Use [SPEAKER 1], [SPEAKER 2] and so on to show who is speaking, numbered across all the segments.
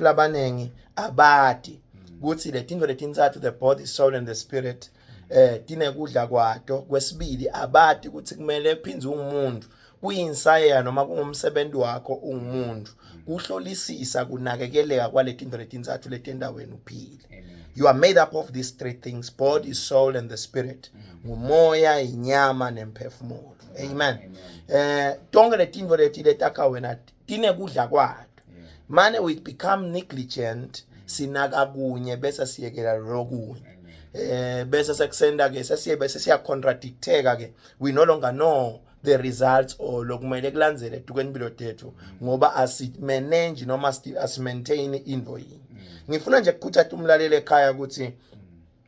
[SPEAKER 1] labaningi abati mm. kuthi letintfo letintsatfu the body soul and the spirit eh tinekudla kwato kwesibili abati ukuthi kumele phindze ungumuntu kuyinsayeya noma kungumsebenzi wakho ungumuntu mm. kuhlolisisa kunakekeleka kwaletinto letintsatfu letenta wena uphile you are made up of these three things body soul and the spirit mm. ngumoya inyama nemphefumulo amen eh tonke letinto leti letakha wena inekudla kwayo mane we become negligent sinaka kunye bese siyekela lokunye eh bese sekusenda ke sesiye bese siya contradicteka ke we no longer know the results or lokumele kulandzele dukeni bilo tethu ngoba asi manage noma asi maintain into yini ngifuna nje ukukhuthatha umlaleli ekhaya ukuthi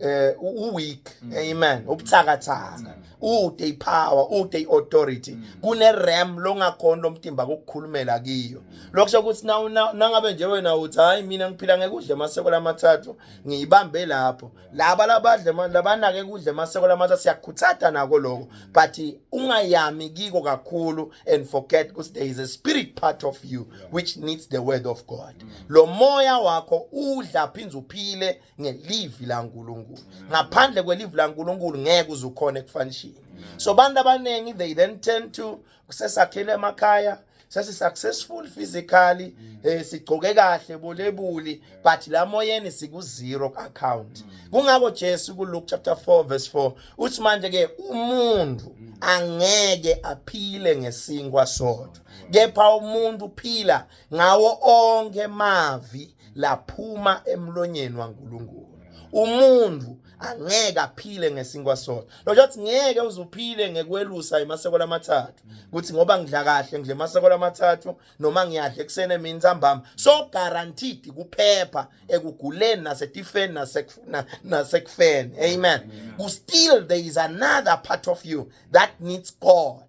[SPEAKER 1] eh uweak mm. amen ubuthakathaka mm. ude ipower ude iauthority mm. kune ram longakhona lomtimba ukukhulumela kiyo lokusho ukuthi na nangabe nje wena uthi hayi mina ngiphila ngekudle maseko lamathathu ngiyibambe lapho laba labadle labanake kudle maseko lamathathu siyakhuthada nako lokho but ungayami kiko kakhulu and forget ukuthi there is a spirit part of you which needs the word of god lo moya wakho udla phinza uphile ngelivi laNkulunkulu ngaphandle kwelivi laNkulunkulu ngeke uzukhona ekufanishini so abantu abaningi they then tend to kusesakhele emakhaya sesi successful physically mm. eh sigcoke kahle bolebuli but la moyeni siku zero account mm. kungako Jesu ku Luke chapter 4 verse 4 uthi manje ke umuntu mm. angeke aphile ngesinkwa sodwa kepha umuntu uphila ngawo onke mavi laphuma emlonyeni waNkulunkulu umuntu angeke aphile ngesinkwa sona lojo athi ngeke uzuphile ngekwelusa imaseko lamathathu ukuthi ngoba ngidla kahle ngidle maseko lamathathu noma ngiyadla ekuseni emini ntambama so guaranteed kuphepha ekuguleni nasetifeni nasekufuna nasekufeni amen ku still there is another part of you that needs god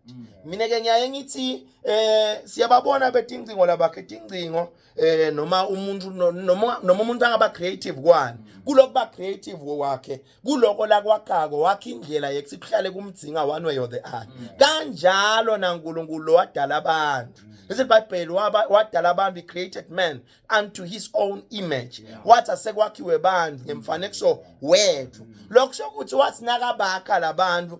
[SPEAKER 1] mina ke ngiyaye ngithi eh siyababona betincingo labakhe tincingo eh noma umuntu noma noma umuntu angaba creative kwani kulokuba creative wakhe kuloko la kwaqako wakhe indlela yekuthi kuhlale kumdzinga one way or the other mm. kanjalo naNkulunkulu wadala abantu mm. bese iBhayibheli wadala abantu created man unto his own image wathi asekwakhiwe abantu ngemfanekiso wethu mm. lokho sokuthi wathi nakabakha labantu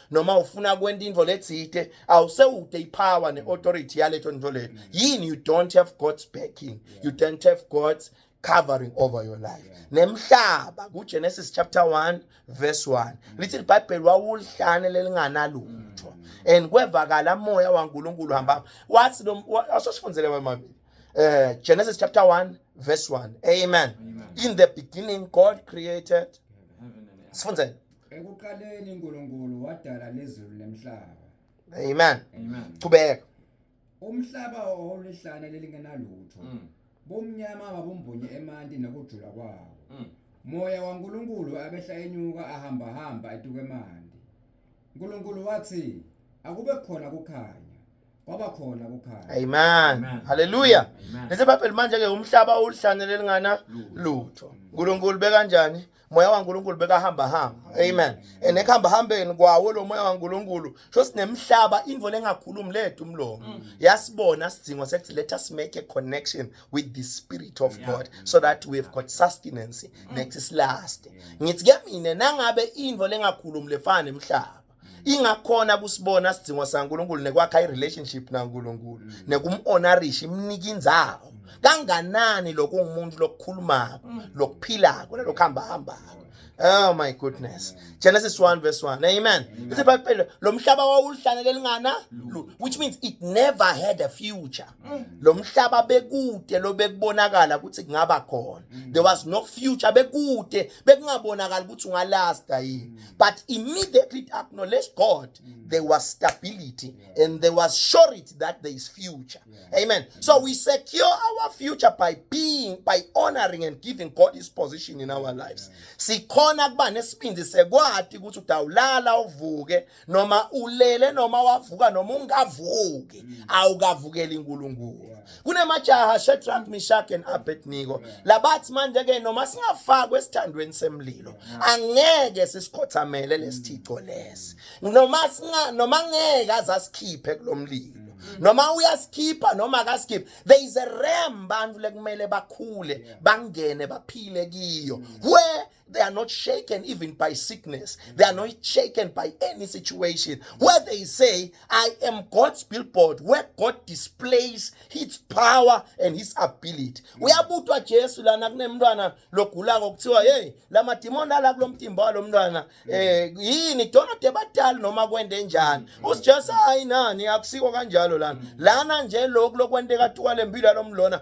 [SPEAKER 1] noma ufuna kwenta into letsite awusewute ipower ne-authority yaleto nto leyo yini you don't have god's backing you don't have god's covering over your life nemhlaba kugenesis chapter 1 verse 1 lithi libhayibheli wawulihlane lelinganalutho and kwevakala moya wankulunkulu hamba wathi asosifundele wemabili uh, genesis chapter 1 verse 1 amen, amen. in the beginning god created sifundzele Ekuqaleni
[SPEAKER 2] uNkulunkulu wadala lezulu nemhlaba. Amen. Amen.
[SPEAKER 1] Qhubeka. Umhlaba
[SPEAKER 2] owulihlane lelingenalutho. Mm. Bomnyama babumbunye emanti nokujula kwawo. Mm. Moya waNkulunkulu abehla enyuka ahamba hamba etukemandi. uNkulunkulu wathi akube khona kukhanya. kwaba khona kukhanya amen
[SPEAKER 1] haleluya lese baphela manje ke umhlaba ulihlanyele lingana lutho uNkulunkulu bekanjani moya waNkulunkulu bekahamba hamba amen and ekuhamba hambeni kwawo lo moya waNkulunkulu sho sinemhlaba into lengakhulumi lethu umlomo mm. yasibona sidingo sekuthi let us make a connection with the spirit of God so that we have got sustenance mm. next is last ngithi ke mina nangabe into lengakhulumi lefana emhlaba ingakhona kusibona sidingo saNkuluNkulu nekwakha irelationship naNkuluNkulu mm. nekumhonorisha imnika inzawo mm. kanganani lokho ungumuntu lokukhulumako mm. lokuphilako nalokuhamba hambako Oh my goodness. Genesis 1 verse 1. Amen. Ithi baphela lo mhlaba wawulihlane lelingana which means it never had a future. mm. lo mhlaba bekude lo bekubonakala ukuthi kungaba khona mm. there was no future bekude bekungabonakala ukuthi ungalasta yini mm. but immediately it acknowledged god mm. there was stability yeah. and there was surety that there is future yeah. amen mm. so we secure our future by being by honoring and giving god his position in our lives yeah. sikhona kuba nesibindi sekwati ukuthi udawulala uvuke noma ulele noma wavuka noma ungavuki mm. awukavukeli inkulunkulu kunemajaha Shadrach Meshach and Abednego labathi manje ke noma singafakwe esithandweni semlilo angeke sisikhothamele lesithico lesi noma singa noma ngeke azasikhiphe kulomlilo noma uyasikhipha noma akasikhiphi there is a realm bantu lekumele bakhule bangene baphile kiyo where They are not shaken even by sickness. They are not shaken by any situation. Where they say, I am God's billboard, where God displays his power and his ability. Uyabutwa Jesu lana kunemntwana logula ngokuthiwa hey lama demon ala kulomtimba walomntwana eh yini dona debatali noma kwende njani. Usijesu hayi nani akusiko kanjalo lana. Lana nje lokho lokwenteka tuwa lempilo yalomlona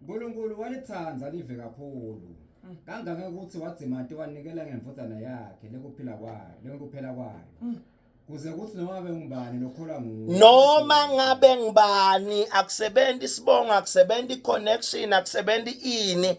[SPEAKER 1] uNkulunkulu
[SPEAKER 2] walithanda live kakhulu mm. kangaka ukuthi wadzimati wanikela ngemvudzana yakhe lekuphila kwayo lekuphela kwayo mm. kuze kuthi noma ngabe ngubani lokholwa nguwe noma ngabe ngubani akusebenzi
[SPEAKER 1] isibongo akusebenzi iconnection akusebenzi ini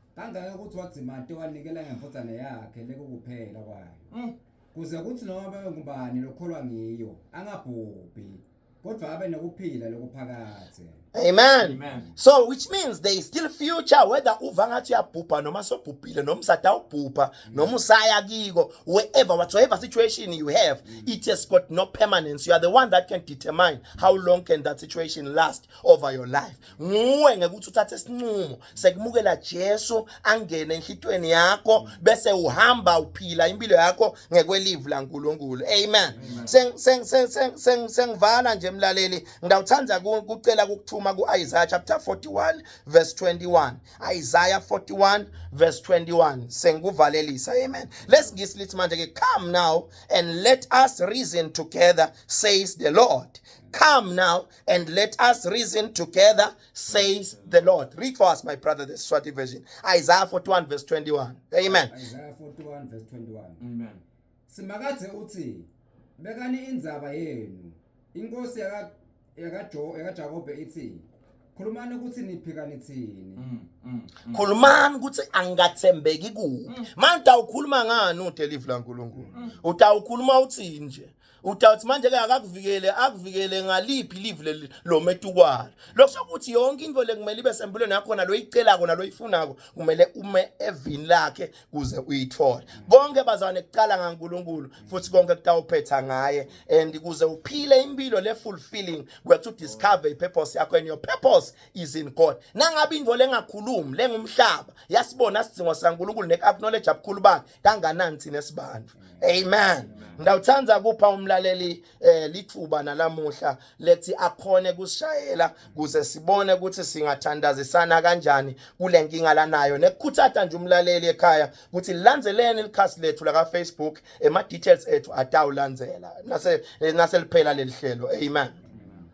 [SPEAKER 2] kangaka ukuthi wadzimate wanikela ngemfudzane yakhe lekukuphela kwayo Mm. kuze kuthi noma babe ngubani lokholwa ngiyo angabhubhi kodwa abe nokuphila lokuphakathe Amen. Amen.
[SPEAKER 1] So which means there is still future whether uva ngathi uyabhubha noma sobhubhile noma usadawubhubha noma usaya kiko wherever whatsoever situation you have it has got no permanence you are the one that can determine how long can that situation last over your life nguwe ngekuthi uthathe isinqumo sekumukela Jesu angene enhlitweni yakho bese uhamba uphila impilo yakho ngekwelivu laNkulunkulu amen sengivala nje mlaleli ngidawuthanda kucela ukuthuma kuIsaiah chapter 41 verse 21 Isaiah 41 verse 21 sengikuvalelisa amen let's ngisi lithi manje ke come now and let us reason together says the lord come now and let us reason together says the Lord. Read for us, my brother, the Swati version. Isaiah 41, verse 21. Amen. Isaiah 41 verse 21. Amen.
[SPEAKER 3] Simakathe
[SPEAKER 2] uthi bekani indzaba yenu. Inkosi yaka yakaJo yakaJakobe ithi khulumani ukuthi niphika nithini. Mm, mm, mm.
[SPEAKER 1] Khulumani ukuthi angathembeki kuphi. Manje utawukhuluma ngani uDelive laNkulunkulu? Utawukhuluma uthini nje? Udawuthi manje ke akakuvikele akuvikele ngaliphi live leli lometukwalo. Lokusho ukuthi yonke into lekumele ibe sempilweni yakho nalo icelako nalo ifunako kumele ume evini lakhe kuze uyithole. Konke bazane kuqala ngaNkuluNkulu futhi konke kutawuphetha ngaye and kuze uphile impilo le fulfilling kwethu discover i purpose yakho and your purpose is in God. Nangabe into lengakhulumi lengumhlaba yasibona sidingo saNkuluNkulu ne acknowledge abukhulu bakhe kanganansi nesibandla amen ngiyawuthanda kupha umlaleli eh lithuba nalamuhla lethi akhone kusishayela kuze sibone ukuthi singathandazisana kanjani kule nkinga lanayo nekukhuthatha nje umlaleli ekhaya ukuthi landeleni likhasi lethu laka Facebook ema details ethu atawulandzela nase nase liphela lelihlelo amen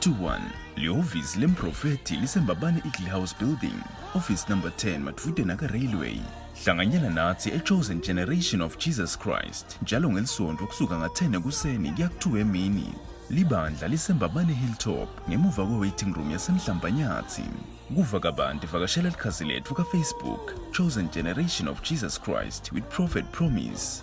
[SPEAKER 4] 21 lihhovisi lemprofethi lisembabane eagle house building office number 10 madvude naka-railway hlanganyela nathi e-chosen generation of jesus christ njalo ngelisonto kusuka nga-10 ekuseni kuya ku-2 emini libandla lisembabane hilltop ngemuva kwe-waiting room yasemhlambanyathi kuva kabanti vakashela likhasi letfu kafacebook chosen generation of jesus christ with prophet promise